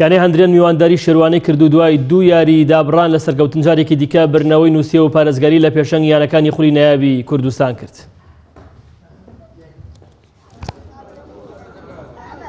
یانەی هەندرێن میوانداری شێروانەی کردو دوای دوو یاریی دابڕان لە سەرکەوتن جارێکی دیکە برنەوەی نووسیەوە و پارێزگاری لە پێشەنگ یانەکانی خولی نایابی کوردستان کرد.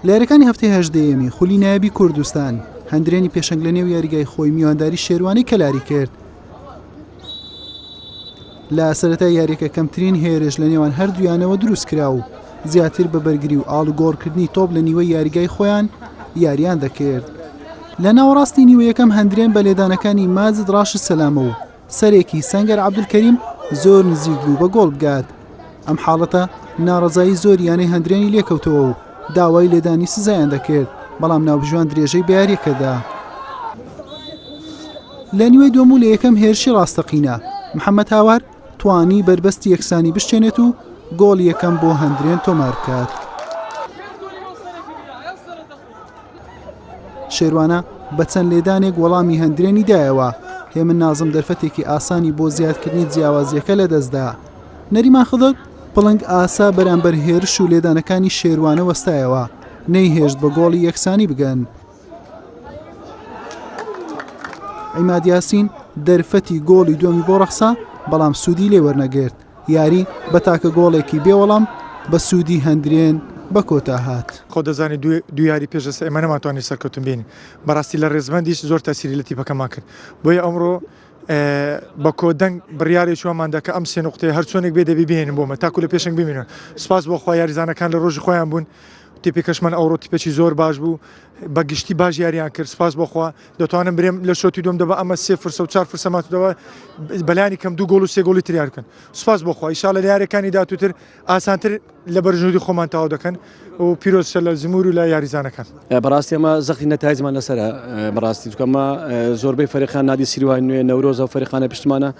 لە یاریەکانی هەفتەی هەژدەیەمی خولی نایابی کوردستان، هەندرێنی پێشەنگ لەنێو یاریگای خۆی میوانداری شێروانەی کەلاری کرد، لە سەرەتای یاریەکە کەمترین هێرش لە نێوان هەردوویانەوە دروست کرا و زیاتر بە بەرگری و ئاڵوگۆڕکردنی تۆپ لە نیوەی یاریگای خۆیان یاریان دەکرد. لە ناوەڕاستی نیوە یەکەم هەندرێن بە لێدانەکانی ماجد ڕاشد سەلامە و سەرێکی سەنگەر عەبدولکەریم زۆر نزیک بوو بە گۆڵ بگات. ئەم حاڵەتە ناڕەزایی زۆر یانەی هەندرێنی لێکەوتەوە و داوای لێدانی سزایان دەکرد بەڵام ناوبژیوان درێژەی بە یاریەکەدا. لە نیوەی دووەم و لە یەکەم هێرشی ڕاستەقینە، محەمەد هاوار توانی بەربەستی یەکسانی بشکێنێت و گۆڵی یەکەم بۆ هەندرێن تۆمار بکات. شێروانە بە چەند لێدانێک وەڵامی هەندرێنی دایەوە هێمن نازم دەرفەتێکی ئاسانی بۆ زیادکردنی جیاوازیەکە لە دەستدا نەریمان خدر پڵنگ ئاسا بەرامبەر هێرش و لێدانەکانی شێروانە وەستایەوە نەیهێشت بە گۆڵی یەکسانی بگەن عیماد یاسین دەرفەتی گۆڵی دووەمی بۆ ڕەخسا بەڵام سوودی لێ وەرنەگرت یاری بە تاکە گۆڵێکی بێوەڵام بە سوودی هەندرێن بە کۆتا هات خۆ دەزانی دویاری پێش لەسە ئێمە نەماتوانانی سەرکەوتن بین بەڕاستی لە ڕێزمەندیش زۆر تاسیری لە تیپەکەمان کرد بۆیە ئەمڕۆ بە کۆدەنگ بڕیارێک چوەمان دەکە ئەم سێ نقطێ هەرچۆنێک بێ دەبی بێنن بۆمە تاکو لە پێشنگ بمێنن سپاس بۆ خۆ یاریزانەکان لە ڕۆژی خۆیان بوون تیپی کەشمەن ئەوڕۆ تیپێکی زۆر باش بوو بەگشتی باش یاریان کرد سپاس بخوا دەتوانم برێم لە شوتی دوم دەبە ئەمە سێ فرسە و چار فرسە ماتدەوە بەلانی کەم دوو گۆڵ و سێ گۆڵی تریار بکەن سپاس بخوا ئیشا لە یارەکانی داتوتر ئاسانتر لە بەرژودی خۆمان تاو دەکەن و پیرۆزشە لە زمور و لە یاریزانەکان بەڕاستی ئەمە زەختی نەتایزمان لەسرە بەڕاستی چکەمە زۆربەی فەرخان نادی سیروان نوێ نەورۆزە و فەرخانە پشتمانە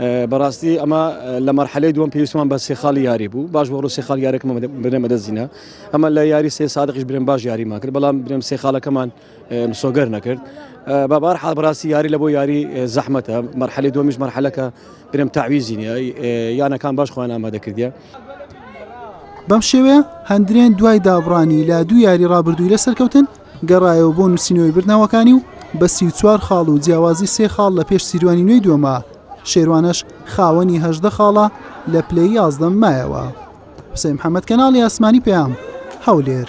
بەڕاستی ئەمە لە مەرحەلەی دووەم پێویستمان بە سێ خاڵی یاری بوو باش بۆ ڕوو سێ خاڵ یارێکمە بنە بەدەستینە ئەمە لە یاری سێ سادقیش برێن باش یاریمان کرد بەڵام برێم سێ خاڵەکەمان مسۆگەر نەکرد بابار حال بەڕاستی یاری لە بۆ یاری زەحمەتە مەرحەلی دومیش مەرحەلەکە برێم تاویزی نیە یانەکان باش خۆیان ئامادە کردە بەم شێوەیە هەندرێن دوای دابڕانی لە دوو یاری ڕابردووی لە سەرکەوتن گەڕایەوە بۆ نووسینەوەی بردنەوەکانی و بە سی و چوار خاڵ و جیاوازی سێ خاڵ لە پێش سیروانی نوێی دووەمە، شێروانەش خاوەنی هەژدە خاڵە لە پلەی یازدەم مایەوە. حوسەین محەمەد کەناڵی ئاسمانی پەیام، هەولێر.